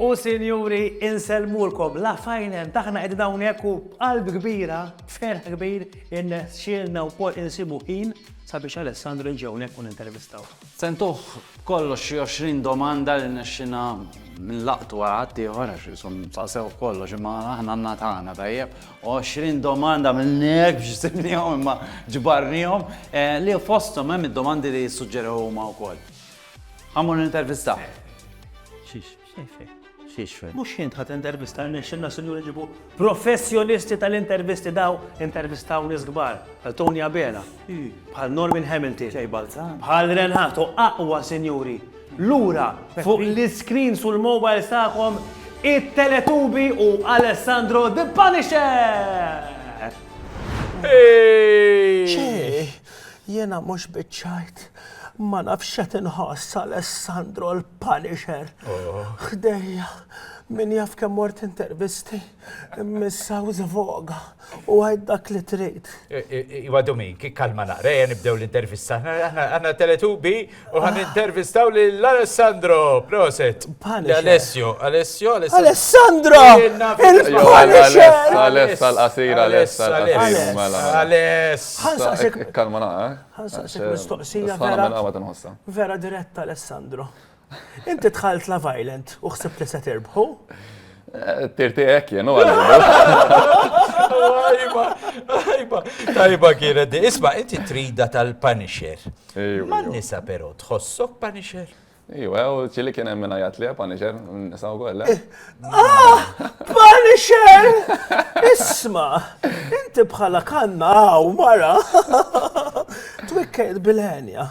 U sinjuri, insellmulkom la fajnen taħna qed hawnhekk u qalb kbira, ferħ kbir, innexxielna wkoll insibu ħin sabiex Alessandru ġewnek u nintervistaw. Sentuh kollox xi 20 domanda li nexxina minn laqtu għal ħaddieħor għax jisom sasew kollox imma aħna għandna tagħna tajjeb 20 domanda għamilni hekk biex ġsibnihom imma ġbarnihom, li fosthom hemm id-domandi li jissuġġerew huma wkoll. Ħa mmur nintervista. Xiex, xejn fejn. Xiex fejn. Mhux int ħa tintervista rnexxilna sinjuri nġibu professjonisti tal-intervisti daw intervistaw nies kbar bħal Tony Abela, bħal Norman Hamilton, bħal Ren Hato, aqwa sinjuri Lura fuq l-iscreens u l-mobiles tagħkom it-Teletubi u Alessandro the Punisher! Ċi! Jiena mhux biċċajt. Ma nafx x'qed inħoss Alessandro l-Punisher ħdejja. Min jaf kemm mort intervisti. Missa u zvoga, u għajt dak li trid. Iwa Domin, kik kalma naqra, jen nibdew l-intervista. Għanna teletubi u għan intervistaw li l-Alessandro, proset. Alessio, Alessio, Alessio. Alessandro! Il-Punisher! Aless, għal-qasir, Aless, għal-qasir, mela. Aless. Kalma naqra. Għansaqsik mistoqsija vera. Vera diretta, Alessandro. Inti dħalt Love Island u ħsibt li se tirbħu? Tirti hekk jenu Tajba, tajba, tajba kienet. Isma, inti trida tal-Punisher. Ma nisa pero, tħossok Punisher? Iwa, u ċili kien hemm minajat li Punisher, nisaw kollha. Eh, ah, Punisher! Isma, inti bħala kanna għaw mara. Twikkejt bil-ħenja.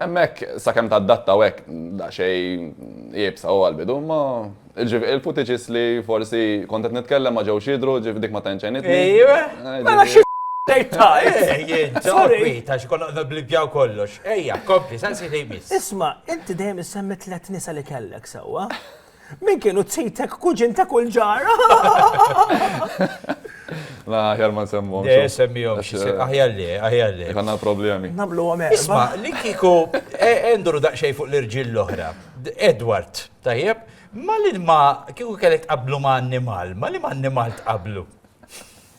Hemmhekk, sakemm tadatta u hekk, daqsxejn iebsa u għall-bidu, imma ġifieri l-footages li forsi kont qed nitkellem ma ġewx jidhru, ġifieri dik ma tantx għenitni. Ejjweh, mela xi tgħid ta', ejj int, joqgħod kwiet għax konna qed nibblibbjaw kollox. Ejja, kompli, saqsi li jmiss. Isma', inti dejjem issemmi tliet nisa li kellek, sewwa? Min kienu t-sitek kuġin ta' kull ġar? La, ħjar ma nsemmu. Le, semmijom, aħjar li, aħjar li. Għanna problemi. Namlu għame. Isma, li kiku, enduru e, daqxej fuq l-irġil l-oħra. Edward, tajjeb, ma li ma kiku kellek qablu ma annimal, ma li ma annimal tqablu.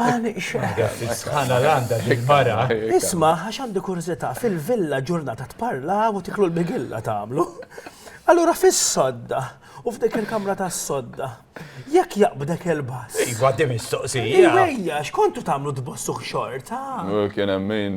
Għani xeħra. Sħana l-għanda bil-mara. Isma, għax għandi kurzita, fil-villa ġurnata tparla u tiklu l-bigilla tamlu. Allura fis-sodda, u f'dik il-kamra ta' sodda, jekk jaqbdek il-bass. Iva, di mistoqsija. Iva, xkontu tamlu tbossu xorta. Kien emmin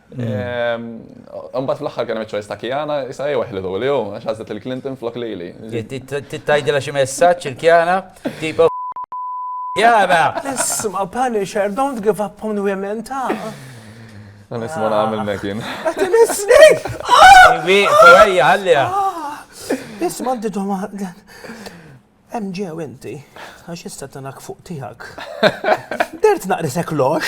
Mbagħad fl-aħħar kien hemm iċ-choice ta' Kiana, issa jew eħlidu li hu, għax għażlet il-Clinton flok lili. Titajdilha xi messaġġ il-Kiana, tipo Kiana! Isma' Punisher, don't give up on women ta'. Dan isma' nagħmel mekin. Qed inisnik! Iwi, ħalliha. Isma' għandi domanda. Hemm ġew inti, għax issa tanak fuq tiegħek. Dert naqrisek lox.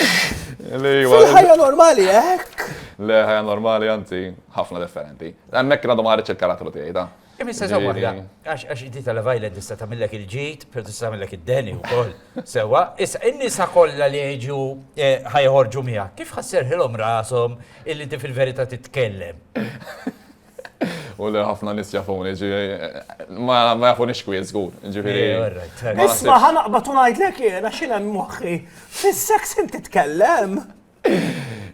Ħajja normali hekk. Le ħajja normali anzi ħafna differenti. Hemmhekk għadhom ħareġ il-karattru tiegħi ta. Imma se sewa għax għax inti tal-vajla tista' tagħmilek il-ġid, però tista' tagħmilek id-deni wkoll. Sewa, issa in-nisa kollha li jiġu eh, ħajħorġu miegħek, kif ħasserħilhom rashom illi ti fil-verità titkellem? U li ħafna nis jafuni, ġifieri, ma ma jafunix kwiet żgur, ġifieri. Eh, all right, all right. ma Isma' nasibx. ħanaqbad u ngħidlek jiena x'in hemm moħħi. Fis-seks int titkellem.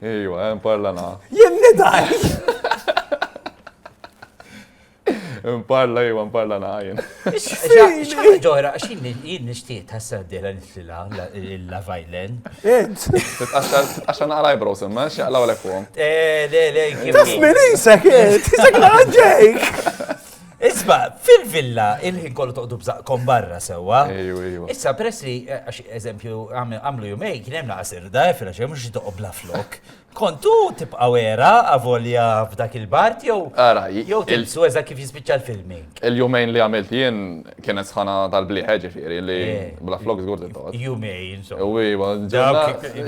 Ejwa, hemm parla na. Jien nidgħi. Imparla ejwa, imparla na jien. X'ħaġa ġohra, għax jien nixtieq tas-sena d-dieħla nitlilha il-Love Island. Int! Għax għandna għal eyebrows imma, x'jaqlaw lek fuqhom. Eh, le, le, kif. Tasmin isek int, isek naġġejk! Isma, fil-villa, il-ħin kollu toqdu bżaqkom barra sewa. Issa, pressi, eh, għax eżempju, għamlu jumej, kien hemm naqsir, da, fil-għax, mux toqob la flok. Kont u tibqa' wera avolja f'dak il-bart jew jew tilbsu eżatt kif jispiċċa l-filmi. Il-jumejn li għamilt jien kienet sħana tal-blieħ ġifieri li bla flok żgur titgħodd. Jumejn insomma. Iva,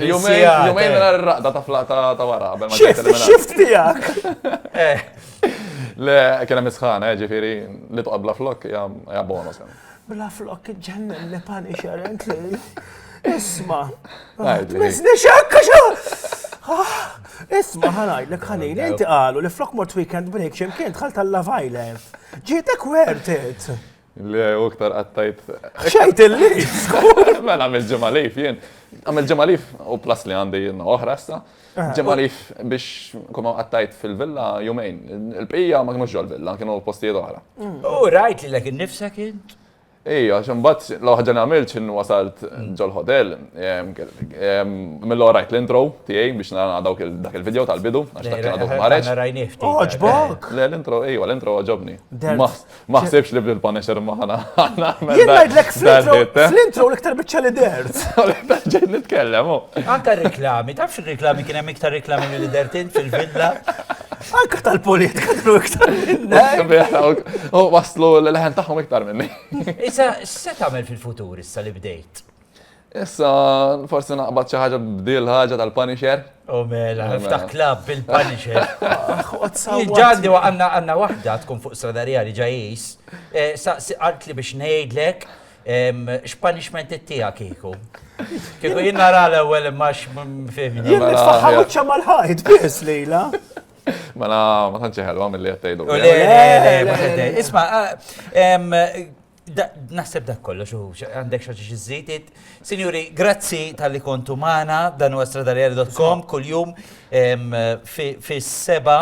jumejn mingħajr ir-raqda ta' flaq ta' wara. Xift tiegħek! Le, kien hemm is-sħana ġifieri li toqgħod bla flok hija bonus. Bla flok ġennem li Punisher and lejl. Isma. Mizni xekka xa! Ah, isma ħanajdlek ħalili, inti qalu li flok mort weekend break ximkien tħalt tal-Love Island. Ġietek worth it. Le, u ktar għattajt. Xajt il-li! Mela, għamil ġemalif jien. Għamil ġemalif u plas li għandi jien oħra sta. Ġimgħa Leaf biex nkun ma qattajt fil-villa jumejn. Il-bqija ma kinux ġol-villa, kienu postijiet oħra. U rajt lilek innifsek int? Ija, ximbat, l-ħagġa li għamilt xin wasalt ġol hotel, mill rajt l-intro tijaj biex nara dawk dak il-video tal-bidu, għax dak kien għadu maħreċ. Oġbok! Le, l-intro, ija, l-intro għagħobni. Ma ħsibx li bil punisher ma ħana. Jien ngħidlek fl-intro l-iktar biċċa li dert. Ġejt nitkellem. Anka reklami, tafx reklami kien hemm iktar reklami mill dertin fil-villa. Anka tal-politika kienu iktar minna. U waslu l-leħen tagħhom iktar minni. Issa, se tagħmel fil-futur issa li bdejt? Issa, forsi naqbad xi ħaġa bdil ħaġa tal-Punisher. U mela, ftaħ klab bil-Punisher. Ġandi għanna għanna wahda tkun fuq stradarija li ġajis, eh, saqsi għalt li biex nejdlek x'punishment it-tija kiku. Kiku jien nara l-ewwel imma x'fehmi. Jien nitfaħħam uċċa mal-ħajt biss lejla. Mela ma tantx ħelwa mill-li qed tgħidu. Isma' Naħseb dak kollox u għandek xaġi xizzit. Sinjuri, grazzi tal-li kontu maħna, dan u għastradaljer.com, kull-jum fi seba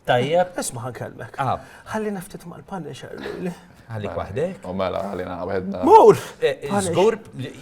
tajjeb. Isma ħan kelmek. Ah. Għalli naftit mal-Punisher. Għalli kwahdek. U mela, għalli naħbedna. Mur! Zgur, eh, eh,